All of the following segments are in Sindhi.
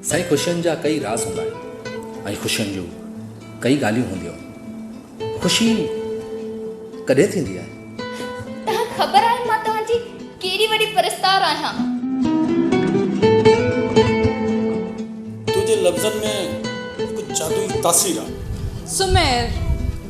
سائين خوشين جا ڪئي راز هوندا آهن ۽ خوشين جون ڪئي ڳالهيون هونديون خوشي ڪڏهن ٿيندي آهي. تهان خبر آهي مان تهان جي ڪيڏي وڏي پرستار آهيان. تنهنجي لفظن ۾ هڪ جادوئي تاثير آهي. سمير،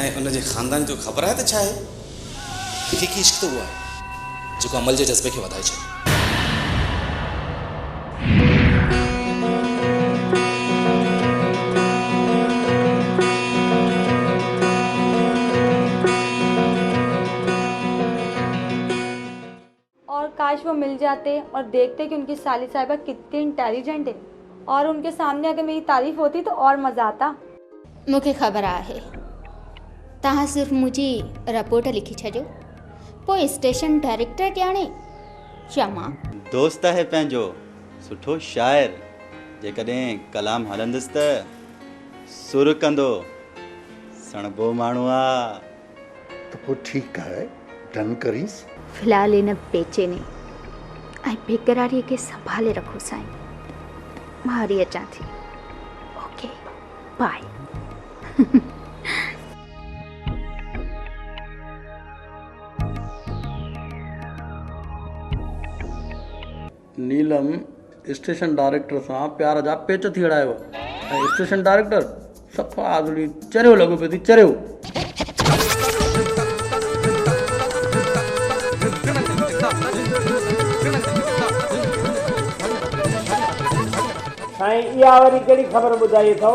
۽ ان جي خاندان جو خبر آهي ته ڇا آهي؟ حقيقي عشق ته اهو آهي جيڪو عمل جي جذبي کي وڌائي ڇڏي. اور ڪاش وو مل جاتي اور ديکتي ڪي ان ڪي سالي صاحبه ڪتي انٽيليجنٽ هي اور ان ڪي سامني اگر ميري تعريف هوتي تو اور مزا آتا. مون کي خبر آهي توهان صرف منهنجي رپورٽ لکي ڇڏيو پوء اسٽيشن ڊائريڪٽر ڄاڻي يا مان. دوست آهي پنهنجو سٺو شاعر جيڪڏهن ڪلام هڻندس ته سر ڪندو سڻڀو ماڻهو آ. ته پوء ٺيڪ آهي ڊن ڪريس. في الحال هن بيچيني ۽ بيقراريء کي سنڀالي رکو سائين. مان هلي اچان ٿي. Okay bye. Neelam station director سان پيار جا پيچ ٿي اڙائي هئا ۽ اسٽيشن ڊائريڪٽر صفا آزڙي چريو لڳو پيو ٿي چريو. سائين اها وري ڪهڙي خبر ٻڌائي اٿئو.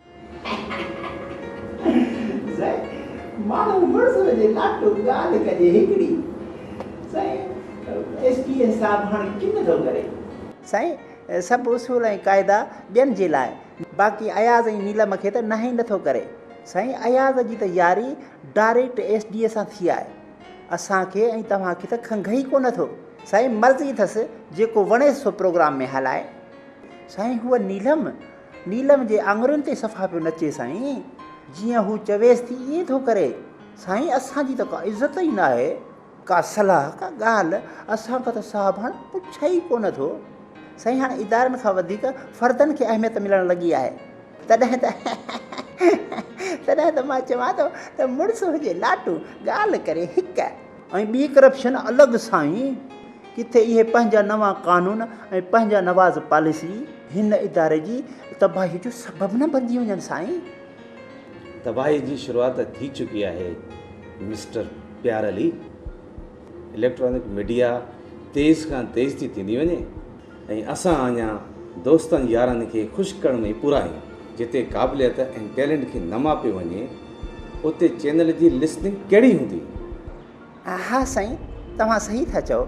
سائين ماڻهو مڙس وڃي لاٽو ڳالهه ڪجي هڪڙي سائين ايس پي ايس صاحب هاڻي ڪن ٿو ڪري. سائين سڀ اصول ۽ قاعدا ٻين جي لاء باقي اياز ۽ نيلم کي ته ناهي نٿو ڪري سائين اياز جي ته ياري ڊاريڪٽ ايس ڊي اي سان ٿي آهي اسان کي ۽ توهان کي ته کنگهه ئي ڪونه ٿو سائين مرضي اٿس جيڪو وڻيس سو پروگرام ۾ هلائي سائين هوء نيلم نيلم جي آڱرين تي صفا پيو نچي سائين. جيئن هو چويس ٿي ائين ٿو ڪري. سائين اسان جي ته ڪا عزت ئي ناهي. ڪا صلاح ڪا ڳالهه اسان کان ته صاحب هاڻ پڇي ئي ڪونه ٿو. سائين هاڻ ادارن کان وڌيڪ فردن کي اهميت ملڻ لڳي آهي. تڏهن ته تڏهن ته مان چوان ٿو ته مڙس هجي لاٽو ڳالهه ڪري هڪ ۽ ٻي ڪرپشن الڳ سائين. ڪٿي اهي پنهنجا نوان قانون ۽ پنهنجا نواز پاليسي هن اداري جي تباهي جو سبب نه بنجي وڃن سائين. تباهي جي شروعات ٿي چڪي آهي مسٽر پيار علي. اليڪٽرانڪ ميڊيا تيز کان تيز ٿي ٿيندي وڃي ۽ اسان اڃا دوستن يارن کي خوش ڪرڻ ۾ ئي پورا آهيون. جتي قابليت ۽ ٽيلنٽ کي نه ماپيو وڃي اتي چينل جي لسننگ ڪهڙي هوندي. ها سائين توهان صحيح ٿا چئو.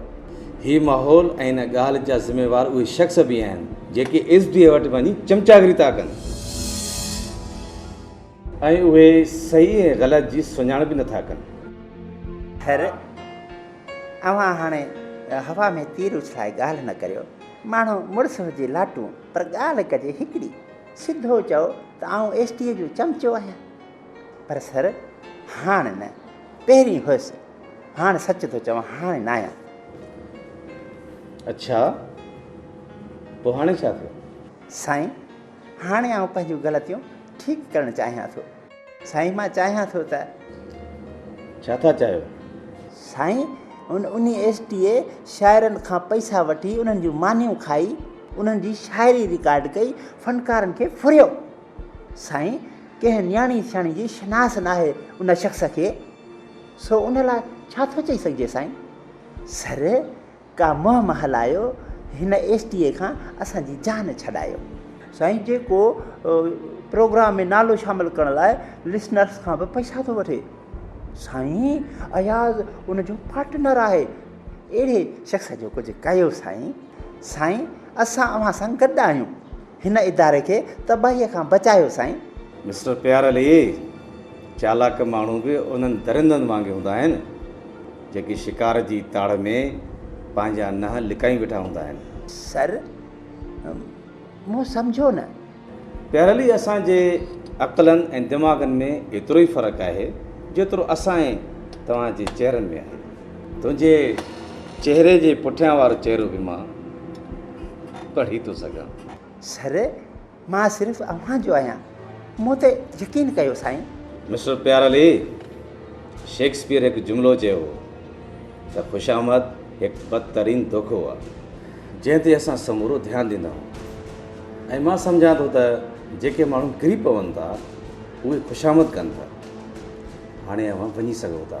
هي ماحول ۽ ان ڳالهه جا ذميوار اهي شخص به آهن جيڪي ايس ڊي اي وٽ وڃي چمچاگري ٿا ڪن ۽ اهي صحيح ۽ غلط جي سڃاڻپ به نٿا ڪن. خير اوهان هاڻي هوا ۾ تير اڇلائي ڳالهه نه ڪريو. ماڻهو مڙس هجي لاٽون پر ڳالهه ڪجي هڪڙي. سڌو چئو ته آئون ايس ڊي اي جو چمچو آهيان. پر سر هاڻ نه، پهرين هئس. هاڻ سچ ٿو چوان، هاڻ ناهيان. اڇا، پوء هاڻي ڇا ٿيو؟ سائين، هاڻي آئون پنهنجون غلطيون ٺيڪ ڪرڻ چاهيان ٿو. سائين، مان چاهيان ٿو ته. ڇا ٿا چاهيو؟ سائين، هن انهي ايس ٽي اي شاعرن کان پئسا وٺي، انهن جون مانيون کائي، انهن جي شاعري رڪارڊ ڪئي، فنڪارن کي ڦريو. سائين ڪنهن نياڻي سياڻي جي شناس ناهي ان شخص کي سو ان لاء ڇا ٿو چئي سگهجي سائين؟ سر ڪا مهم هلايو هن ايس ٽي اي کان اسان جي جان ڇڏايو. سائين جيڪو پروگرام ۾ نالو شامل ڪرڻ لاء لسنرس کان به پئسا ٿو وٺي سائين اياز ان جو پارٽنر آهي اهڙي شخص جو ڪجهه ڪيو سائين سائين اسان اوهان سان گڏ آهيون. هن اداري کي تباهيء کان بچايو سائين. مسٽر پيار علي، چالاڪ ماڻهو به انهن درندن وانگي هوندا آهن، جيڪي شڪار جي تاڙ ۾ پنهنجا ننهن لڪائي ويٺا هوندا آهن. سر، مون سمجهيو نه. پيار علي، اسان جي عقلن ۽ دماغن ۾ ايترو ئي فرق آهي، جيترو اسان ۽ توهان جي چهرن ۾ آهي. تنهنجي چهري جي پٺيان وارو چهرو به مان پڙهي ٿو سگهان. سر، مان صرف اوهان جو آهيان. مون تي يقين ڪيو سائين. مسٽر پيار علي، شيڪسپيئر هڪ جملو چيو هو ته خوش آمد هڪ بدترين دوکو آهي. جنهن تي اسان سمورو ڌيان ڏيندا آهيون ۽ مان سمجهان ٿو ته جيڪي ماڻهو ڪري پون ٿا، اهي خوش آمد ڪن ٿا. هاڻي اوهان وڃي سگهو ٿا.